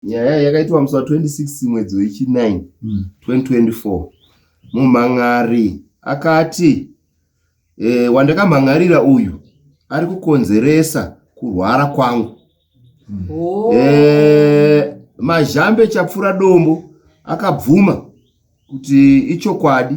nyaya iyi yakaitwa musi wa 26 mwedzi wechi9 mm. 2024 mumhan'ari akati e, wandakamhan'arira uyu ari kukonzeresa kurwara kwangu mm. oh. e, mazhambe chapfura dombo akabvuma kuti ichokwadi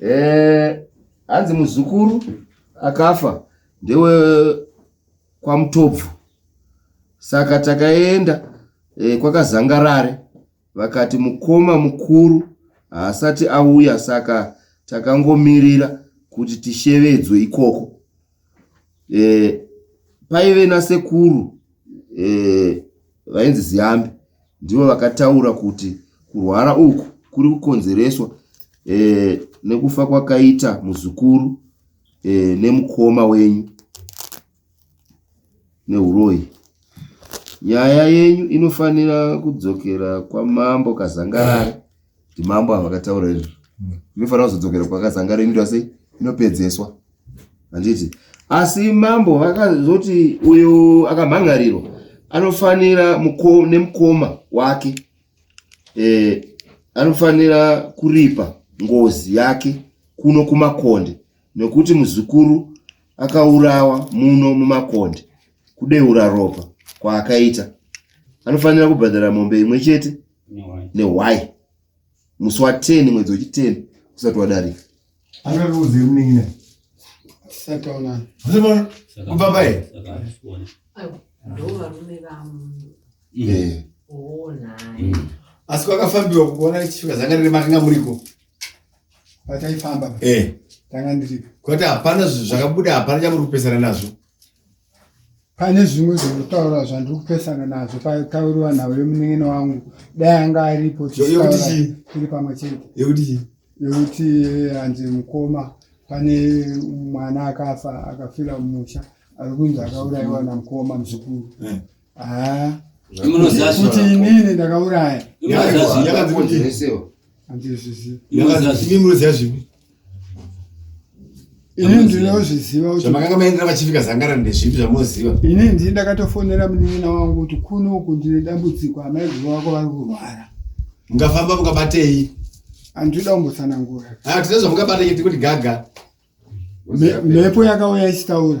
Eh, hanzi muzukuru akafa ndewe kwamutobvu saka takaenda e, kwakazangarare vakati mukoma mukuru haasati auya saka takangomirira kuti tishevedzwe ikoko Paive nasekuru vainzi Ziyambi ndivo vakataura kuti kurwara uku kuri kukonzereswa nekufa kwakaita muzukuru nemukoma wenyu. nehuroyi. Nyaya yenyu inofanira kudzokera kwamambo Kazangarare kuti mambo ava vakataura izvi. Inofanira kuzodzokera kwaKazangarare inoita sei? Inopedzeswa. Handiti? Asi mambo vakazoti uyo akamhangarirwa anofanira nemukoma wake eh, anofanira kuripa ngozi yake kuno kumakonde Nokuti muzukuru akaurawa muno mumakonde kudeura ropa kwaakaita anofanira kubhadhara mombe imwe chete nehwai musi wa 10 mwedzi wechiteni usati wadarika angaruudze munin'ina kubva paye ndovarume vamunhu eh. asi kwakafambiwa kukuona chifika zanga riri matinga muriko pataifamba eh. tanga ndiri kuti hapana zvakabuda hapana chamuri kupesana nazvo pane zvimwe zvekutaura zvandiri kupesana nazvo patauriwa nhau yemunengene wangu dai anga aripo tiri pamwe chete yekuti yekuti eh, hanzi mukoma pane mwana akafa akafira mumusha ari kunzi akaurayiwa namukoma muzukuru eh. Ah. Kuti inini ndakauraya. Ndinoziva zvipi? Ini ndinozviziva kuti zvamakanga maendera vachifika zangara ndezvipi zvamunoziva? Ini ndini ndakatofonera munin'ina wangu kuti kuno uku ndine dambudziko amaiguru wako vari kurwara. Mukafamba mukabatei? Andida kumbotsanangura. Ah, tine zvamukabatei tikuti gaga. Mhepo yakauya ichitaura.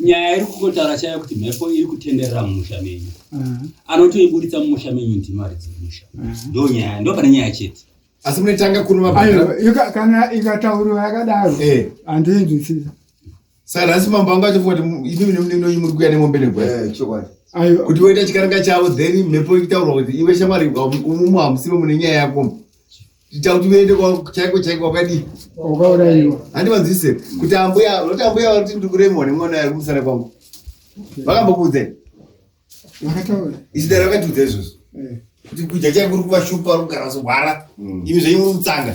nyaya iri kungotaura chaiyo kuti mhepo iri kutenderera mumusha menyu mm. anotoiburitsa mumusha menyu ndimari dzemusha mm. ndo nyaya ndo pane nyaya chete asi munetanga kunovakana ikatauriwa yakadaro eh. handiinzwisisa saka nhasi mambo angu achifunga kuti imi nemnenonyi muri kuya nemombe negwai eh, kuti voita chikaranga chavo then mhepo ikutaurwa kuti iwe shamwari umumu hamusimo mune nyaya yakomo ita kuti uende chaiko chaiko wakadii wakauraiwa handivanzwise kuti ambuya unoti ambuya vakuti ndiri kuremwa nemwana ari kumusana kwangu vakambokuudzai vakataura isidaro vakatiudza izvozvo eh. kuti kudya chaiko uri kuvashupa uri kugara zogwara mm. imi zvenyu muri kutsanga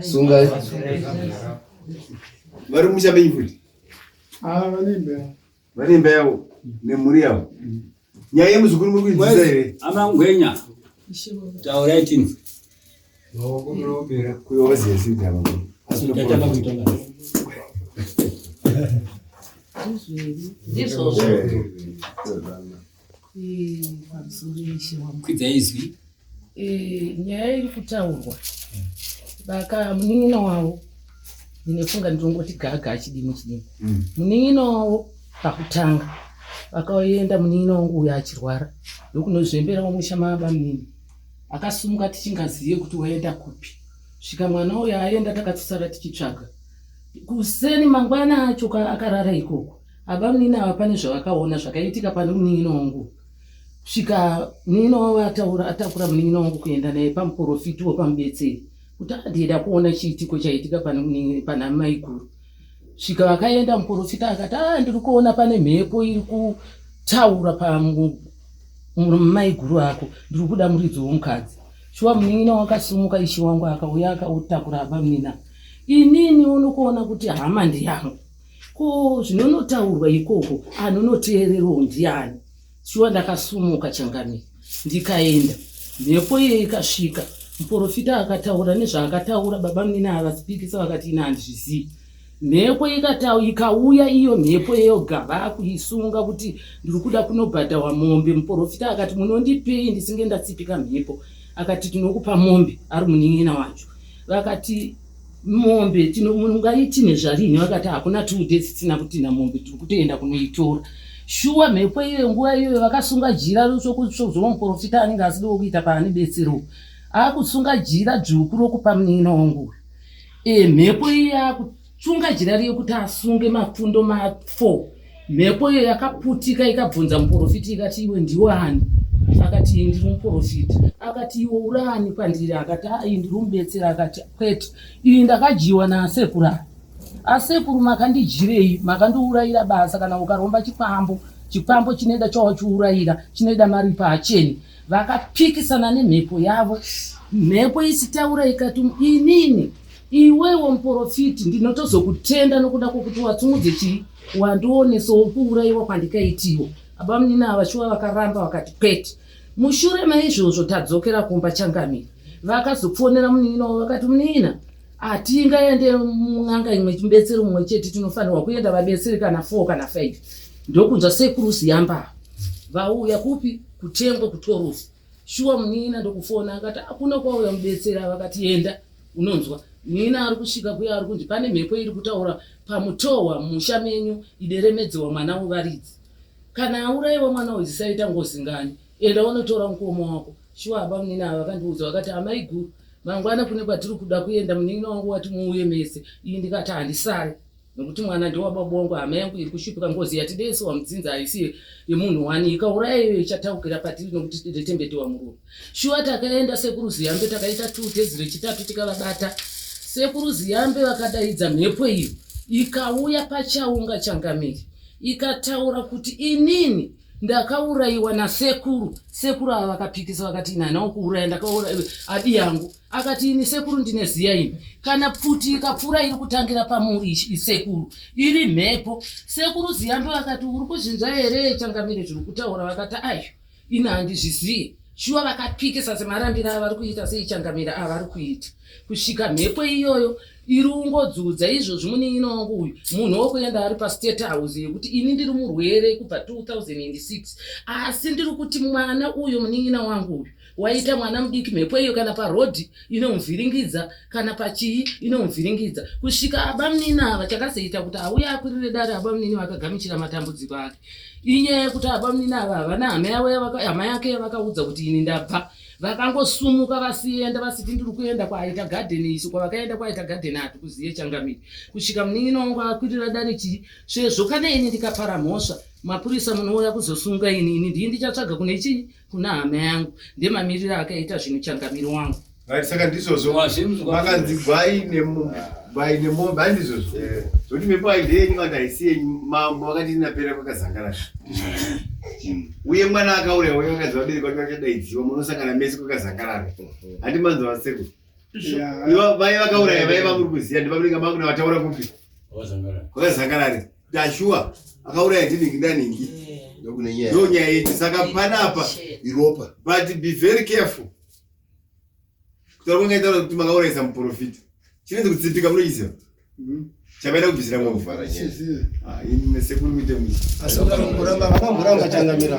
sungai vari musha menyu futi ah, vane imba yavo nemhuri yavo nyaya yemuzukuru muri kuidzisa here amangwenya taurai tini This was kwidzai izwi eh, nyaya iri kutaurwa baka munin'ina wavo ndinefunga ndinongoti gaga achidimo chidimo mm. munin'ina wavo pakutanga vakaenda munin'ina wangu uyo achirwara ndokunozvembera wamusha maaba munini akasumuka tichingazive kuti waenda kupi svika mwana uyo aenda takatsara tichitsvaga kuseni mangwana acho akarara ikoko Abamunini ava pane zvavakaona zvakaitika pane munin'ina wangu svika munin'ina wavo ataura atakura munin'ina wangu kuenda naye pamuporofiti wepamubetseri kuti adida kuona chiitiko chaitika pane munin'ina pana maiguru svika vakaenda muporofita akati a ah, ndiri kuona pane mhepo iri kutaura pamaiguru ako ndiri kuda muridzi womukadzi shuwa munin'ina wakasimuka ishi wangu akauya akautakura abamunina inini unokuona kuti hama ndiyangu ko zvinonotaurwa ikoko anonoteererwo ndiani shuwa ndakasumuka changani ndikaenda mhepo iye ikasvika muporofita akataura nezvaakataura baba munini avasipikisa vakati ina handizvizivi mhepo ikatau ikauya iyo mhepo yoga vakuisunga kuti ndiri kuda kunobhadhawa mombe muporofita akati munondipei ndisinge ndatsipika mhepo akati tinokupa mombe ari munin'ina wacho vakati mombe tino munhu ngaitine zvarinhi vakati hakuna two days tisina kutina mombe tiri kutoenda kunoitora shuwa mhepo iyoyo nguva iyoyo vakasunga jira rosokuzowa muprofita anenge asidi wokuita paane betsero akusunga jira dzvuku rokupa munina wangu e mhepo iyi akusunga jira riye kuti asunge mapfundo mafour Mhepo iyo yakaputika ikabvunza muporofiti ikati, Iwe ndiwe ani? Akati, Ini ndiri muporofiti. Akati, Iwe uri ani pandiri? Akati, Haa, ini ndiri mubetsera. Akati, Kwete, ini ndakadyiwa naasekuru ava. Asekuru makandidyirei? Makandiurayira basa. Kana ukaromba chikwambo, chikwambo chinoida chawachiurayira, chinoida maripo hacheni. Vakapikisana nemhepo yavo, mhepo isitaura ikati, Inini iwewo muporofiti ndinotozokutenda nokuda kwokuti watsungudze chii wandionesawo kuurayiwa kwandikaitiwo abamunini ava shuwa vakaramba vakati kwete mushure maizvozvo tadzokera kumba changamire vakazofonera munin'ina wavo vakati munin'ina hatingaende mun'anga imwe chibetsero mumwe chete tinofanirwa kuenda vabetseri kana four kana five ndokunzwa sekuru ziyamba vauya kupi kutengwe kutorusi shuwa munin'ina ndokufona akati akuna kwauya mubetseri avakatienda unonzwa muina ari kusvika kuya ari kunzi pane mhepo iri kutaura pamutohwa musha menyu ideremedzewa mwana wevaridzi kana auraiwa mwana uyu zisaita ngozi ngani enda unotora mukoma wako shuwa aba muina ava vakandiudza vakati amai guru mangwana kune kwatiri kuda kuenda munin'ina wangu wati muuye mese iyi ndikati handisare nokuti mwana ndewababa wangu hama yangu iri kushupika ngozi yatidese wamudzinza haisi yemunhu wani ikauraya iyo ichataukira patiri nokuti tidetembetewa murume shuwa takaenda sekuru ziyambe takaita two days rechitatu tikavabata sekuru ziyambe vakadaidza mhepo iyo ikauya pachaunga changamiri ikataura kuti inini ndakaurayiwa nasekuru sekuru ava vakapikisa vakati ini hanawo kuuraya ndakauraya adi yangu akati ini sekuru ndine ziya ini kana pfuti ikapfuura iri kutangira pamuri sekuru iri mhepo sekuru ziyambe vakati uri kuzvinzwa here changamire zviri kutaura vakati ayo ini handizviziye shuwa vakapikisa semarambira avari kuita seichangamira avari kuita kusvika mhepo iyoyo iri ungodzudza izvozvi munin'ina wangu uyu munhu wokuenda ari pastate house yekuti ini ndiri murwere kubva 2006 asi ndiri kuti mwana uyo munin'ina wangu uyu waita mwana mudiki mhepo iyo kana parodhi inomuvhiringidza kana pachii inomuvhiringidza kusvika abamunini ava chakazoita kuti auye akwirire dare abamunini vakagamuchira matambudziko ake inyaya yekuti abamunini ava havana hama yavo hama yake yavakaudza kuti ini ndabva vakangosumuka vasienda vasiti ndiri kuenda kwaaita garden isu kwavakaenda kwaaita garden hati kuziye changamiri kusvika munin'ini wangu akwirira dare chii svezvo kana ini ndikapara mhosva mapurisa munouya kuzosunga ini ini ndii ndichatsvaga kune chii kuna hama yangu ndemamiriro akaita zvinhu changamiro wangu right saka ndizvozvo makanzi gwai gwai nemombe ai ndizvozvo eh. zvokuti mhepo aide yenyu vanhu haisi yenyu mambo vakati inapera kwakazangara uye mwana akauraya uye vakadzi vabereki vake vachadaidziwa munosangana mese kwakazangarara handi manzi vasekuru vai vakauraya vaiva muri kuziva ndivamuringa mangu navataura kupi kwakazangarari Joshua akauraya ndiningi ndaningi ndo nyaya yedu saka panapa iropa but be very careful kutaura kwangaitaura kuti makaurayisa muprofita chinenzi kutsipika munochiziva mm-hmm. chavaida kubvisira mwakuvhara nyaya ah, sekuru kuite muiakamboramba changamira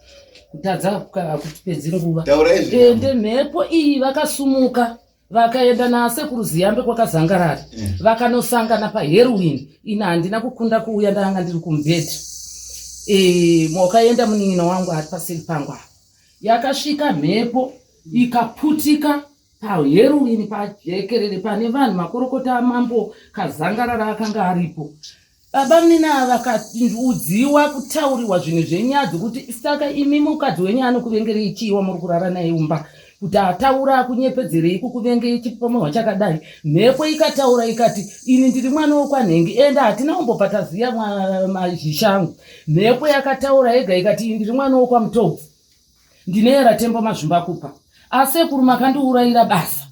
kutadza hakutipedzi nguva ende mhepo iyi vakasumuka vakaenda nasekuru ziyambe kwakazangarara mm. vakanosangana paherwin ina handina kukunda kuuya ndanga ndiri kumubhedha e, mwakaenda munin'ina wangu ari paseri pangu apa yakasvika mhepo ikaputika paherwin pajekerere pane vanhu makorokota amambo kazangarara akanga aripo Baba mina vakaudziwa kutauriwa zvinhu zvenyadzi kuti saka imi mukadzi wenyu anokuvengerei chii wamuri kurara naye umba kuti ataura akunyepedzerei kukuvengei chipomohwa chakadai mhepo ikataura ikati ini ndiri mwana wokwanhengi ende hatina kumbobva taziya mazhishangu mhepo yakataura yega ikati ini ndiri mwana wokwamutobvu ndineyera tembo mazvumba kupa asekuru makandiurayira basa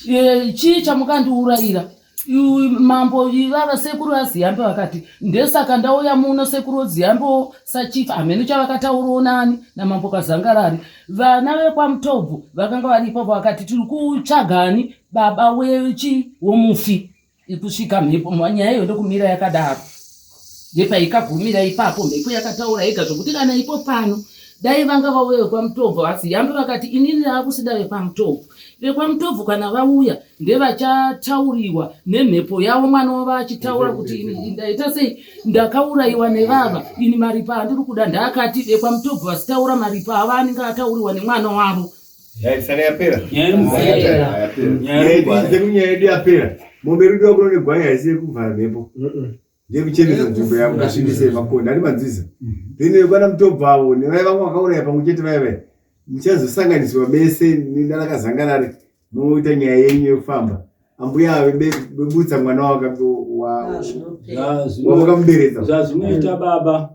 Eh, chii chamukandiurayira mambo ivava sekuru aziyambe vakati ndesaka ndauya muno sekuru oziyambewo sachief hameno chavakataurawo nani namambo kazangarari vana vekwamutobvu vakanga varipo vakati tiri kutsvagani baba wechi womufi ikusvika mhepo nyaya iyo ndokumira yakadaro ndepaikagumira ipapo mhepo yakataura yega zvokuti kana ipo pano dai vanga vauya vekwamutobvu asi yambe vakati inini raakusida vekwamutobvu vekwamutobvu kana vauya ndevachatauriwa nemhepo yavo mwana wavo achitaura kuti ini ndaita sei ndakaurayiwa nevava ini maripa andiri kuda ndaakati vekwamutobvu vasitaura maripa avo anenge atauriwa nemwana wavo Yaisana yapera. Yapera. Nyaya yedu yapera. Mombe rudo wakuno negwai haisi yekuvhara mhepo. Ndiyekuchenesa nzvimbo yavo kasvibise makonda ari manziza. Then vekwana mutobva avo nevaya vamwe vakauraya pamwe chete vaya vaya. Muchazosanganiswa mese nanakazangarari moita nyaya yenyu yekufamba. Ambuya vebutsa mwana wakamuberedza. Zvazvinoita baba.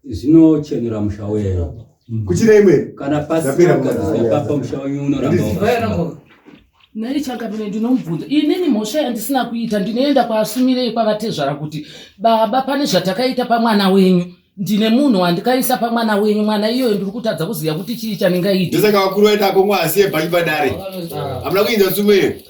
zvinochenura musha wenyu mm. kuchira imwe kana pasipapa musha wenyu unoramba nai chakapine ndinomubvunza inini mhosva yandisina kuita ndinoenda kwaasumirei kwavatezvara kuti baba pane zvatakaita pamwana wenyu ndine munhu wandikaisa pamwana wenyu mwana iyoyo ndiri kutadza kuziva kuti chii chanengaita ndosaka vakuru vaita akomwa asiye bhanyi padare hamuna kuinza tsumo iyo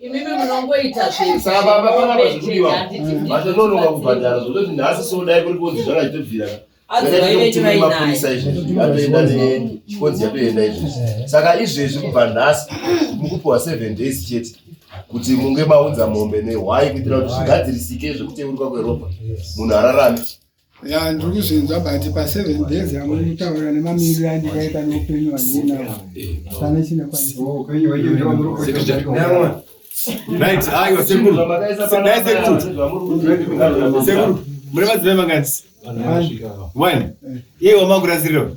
imimi munongoita zvevatonononga kubhadhara zvototi nhasi sodai kuri kunzi zvakachitobvira mapurisa izvezvi atoenda nechikonzi yatoenda izvezvi saka izvezvi kubva nhasi mukupiwa seven days chete kuti munge maunza mombe nehwai kuitira kuti zvigadzirisike zvekuteuruka kweropa munhu ararame ya ndiri kuzvinzwa but paseven days amuri kutaura nemamiriro andikaita neupenyu wandinawo hapana chinakwanisa Right, ayo ah, sekuru. Sekuru. Sekuru. Mure madzimai mangani? One. Iye wamakura zero.